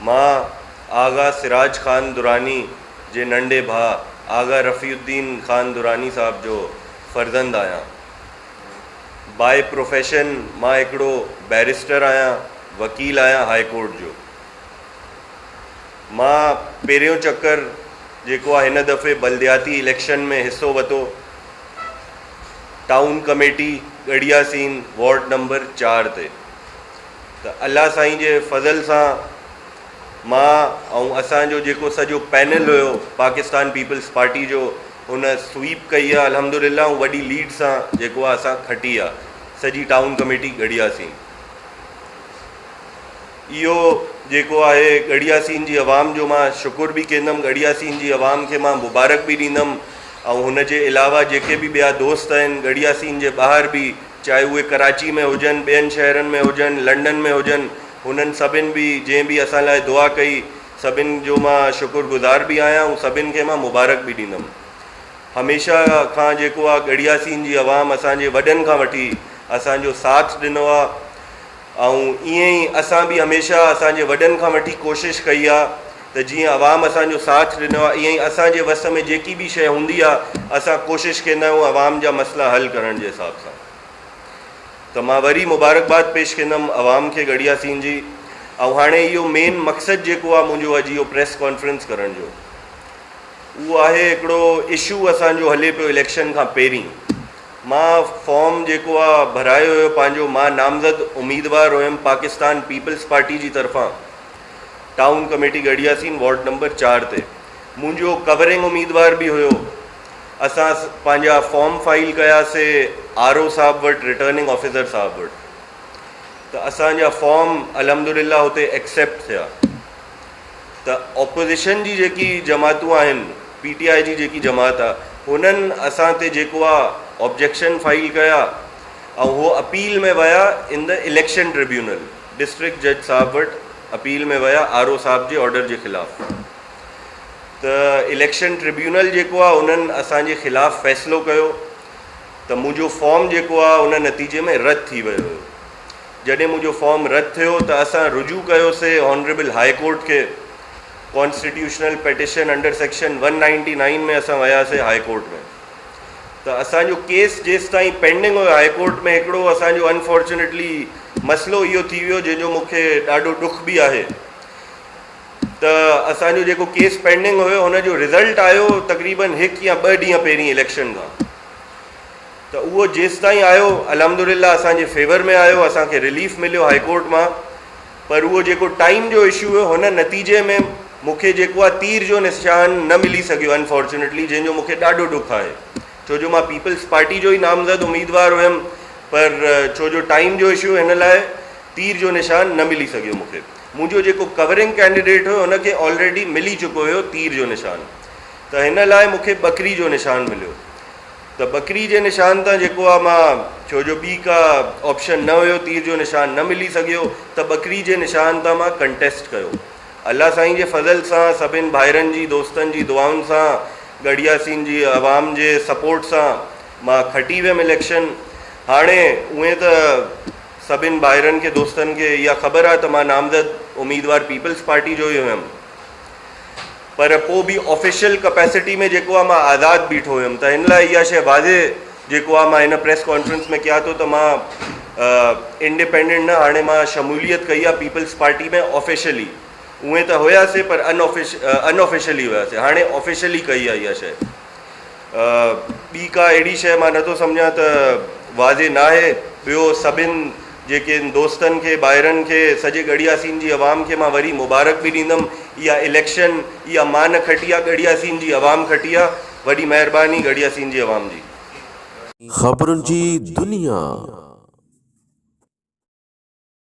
مان آغا سراج خان دراني جي ننڍي ڀاء آغا رفيع الدين خان دراني صاحب جو فرزند آهيان. باء پروفيشن مان هڪڙو بئريسٽر آهيان، وڪيل آهيان هاء ڪورٽ جو. مان پهريون چڪر جيڪو آهي هن دفعي بلدياتي اليڪشن ۾ حصو وتو، town committee Garhi Yasin ward number چار تي. ته الله سائين جي فضل سان مان ۽ اسان جو جيڪو سڄو پينل هيو پاڪستان پيپلز پارٽي جو ان سويپ ڪئي آهي الحمدلله ۽ وڏي ليڊ سان جيڪو آهي اسان کٽي آهي سڄي ٽائون ڪميٽي ڳڙهياسين اهو جيڪو آهي ڳڙهياسين جي عوام جو مان شڪر به ڪندم ڳڙهياسين جي عوام کي مان مبارڪ به ڏيندم ۽ هن جي علاوه جيڪي به ٻيا دوست آهن ڳڙهياسين جي ٻاهر به چاهي اهي ڪراچي ۾ هجن، ٻين شهرن ۾ هجن، لنڊن ۾ هجن، هنن سڀن به جنهن به اسان لاء دعا ڪئي، سڀن جو مان شڪر گذار به آهيان ۽ سڀن کي مان مبارڪ به ڏيندم. هميشه کان جيڪو آ ڳڙهياسين جي عوام اسان جي وڏن کان وٺي اسان جو ساٿ ڏنو آ، آئون ائين ئي اسان به هميشه اسان جي وڏن کان وٺي ڪوشش ڪئي آ ته جيئن عوام اسان جو ساٿ ڏنو آ ائين ئي اسان جي وس ۾ جيڪي به شئي هوندي آ اسان ڪوشش ڪيندا آهيون عوام جا مسئلا حل ڪرڻ جي حساب سان ته مان وري مبارڪباد پيش ڪيندم عوام کي ڳڙهيا سين جي آئون هاڻي اهو مين مقصد جيڪو آ منهنجو اڄ اهو پريس ڪانفرنس ڪرڻ جو اهو آهي هڪڙو اشو اسان جو هلي پيو اليڪشن کان پهرين. مان فارم جيڪو آ ڀرايو هيو پنهنجو مان نامزد اميدوار هيم پاڪستان پيپلز پارٽي جي طرفان town committee Garhi Yasin ward number چار تي منهنجو ڪورنگ اميدوار به هيو اسان پنهنجا فارم فائل ڪيا سي آر او صاحب وٽ ريٽرننگ آفيسر صاحب وٽ ته اسان جا فارم الحمدلله هتي ايڪسيپٽ ٿيا ته اپوزيشن جي جيڪي جماعتون آهن پي ٽي آء جي جيڪي جماعت آ هنن اسان تي جيڪو آ آبجيڪشن فائل ڪيا ۽ هو اپيل ۾ ويا in the election tribunal district جج صاحب وٽ اپيل ۾ ويا آر او صاحب جي آرڊر جي خلاف ته اليڪشن ٽربيونل جيڪو آ انهن اسان جي خلاف فيصلو ڪيو ته منهنجو فارم جيڪو آ ان نتيجي ۾ رد ٿي ويو هيو جڏهن منهنجو فارم رد ٿيو ته اسان رجوع ڪيوسي آنريبل هاء ڪورٽ کي constitutional petition under section one ninety nine ۾ اسان وياسي هاء ڪورٽ ۾ ته اسان جو ڪيس جيستائين پينڊنگ هيو هاء ڪورٽ ۾ هڪڙو اسان جو انفارچونيٽلي مسئلو اهو ٿي ويو جنهن جو مونکي ڏاڍو ڏک به آهي ته اسان جو جيڪو ڪيس پينڊنگ هيو هن جو رزلٽ آيو تقريبن هڪ يا ٻه ڏينهن پهرين اليڪشن کان ته اهو جيستائين آيو الحمدلله اسان جي فيور ۾ آيو اسان کي رليف مليو هائي ڪورٽ مان پر اهو جيڪو ٽائيم جو اشو هيو هن نتيجي ۾ مون کي جيڪو آهي تير جو نشان نه ملي سگهيو انفارچونيٽلي جنهن جو مون کي ڏاڍو ڏک آهي ڇو جو مان پيپلز پارٽي جو ئي نامزد اميدوار هيم پر ڇو جو ٽائيم جو اشو هن لاء تير جو نشان نه ملي سگهيو مون کي منهنجو جيڪو ڪورنگ ڪينڊيڊيٽ هيو هن کي آلريڊي ملي چڪو هيو تير جو نشان ته هن لاء مون کي ٻڪري جو نشان مليو ته ٻڪري جي نشان تان جيڪو آ مان ڇو جو ٻي ڪا آپشن نه هيو تير جو نشان نه ملي سگهيو ته ٻڪري جي نشان تان مان ڪنٽيسٽ ڪيو الله سائين جي فضل سان سڀن ڀائرن جي دوستن جي دعائن سان ڳڙهياسين جي عوام جي سپورٽ سان مان کٽي ويم اليڪشن هاڻي اونئين ته سڀن ڀائرن کي دوستن کي اها خبر آ ته مان نامزد اميدوار پيپلز پارٽي جو ئي هيم. پر پوء به آفيشل ڪپيسٽي ۾ جيڪو آ مان آزاد بيٺو هيم ته هن لاء اها شيء واضح جيڪو آ مان هن پريس ڪانفرنس ۾ ڪيان ٿو ته مان انڊيپينڊنٽ نه هاڻي مان شموليت ڪئي آ پيپلز پارٽي ۾ آفيشلي اونئين ته هياسي پر ان آفيشلي هياسي هاڻي آفيشلي ڪئي آ اها شيء ٻي ڪا اهڙي شيء مان نٿو سمجهان ته واضح ناهي. ٻيو سڀن جيڪن دوستن کي، ڀائرن کي، سڄي ڳڙهياسين جي عوام کي مان وري مبارڪ به ڏيندم. اها اليڪشن، اها مان نه کٽي آ، ڳڙهياسين جي عوام کٽي آ. وڏي مهرباني ڳڙهياسين جي عوام جي. خبرن جي دنيا.